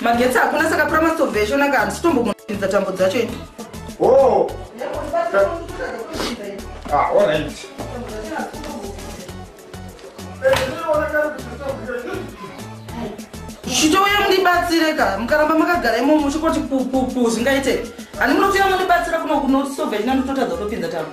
magetsi hakuna saka pura mastovhe eshonaka handisi tombomuinza tambo dzacho ini oh. ah, chitouya mundibatsire ka mukaramba makagara imomo chikoti pupupu zvingaite ani munotuya mundibatsira kuno kuno stovhe china ndototadza kutopinza tambo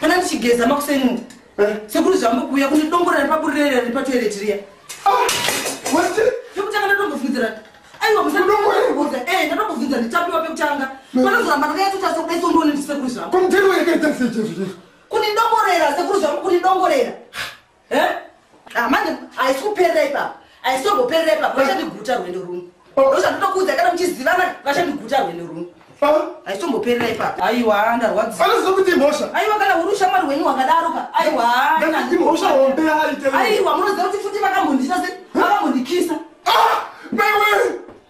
Pana ndichigeza makuseni eh? sekuru zvambokuuya kune dongo rari paburirere riri patoireti riya ah, pekutanga ndatombofunzira aiwa musaoza e eh, ndatombofunzira nditapiwa pekutanga eh. panozoramba ndakayatota sokudaisondoone ndisekuru zvamo kune dongorera sekuru zvamo kune dongorera Ah, manje haisi kuperera ipapa haisi tomboperera ipapa vachandiguta rwendo runo ndozvandotokuudza kana muchizivana vachandiguta rwendo runo haisi tomboperera ipapa aiwa ndarwadzianoziva kuti imhosha aiwa kana uri ushamwari hwenyu hwakadaro ka aiwaimhosha hombe aiwa munoziva kuti futi vakambondita se vakambondikisa ah, mewe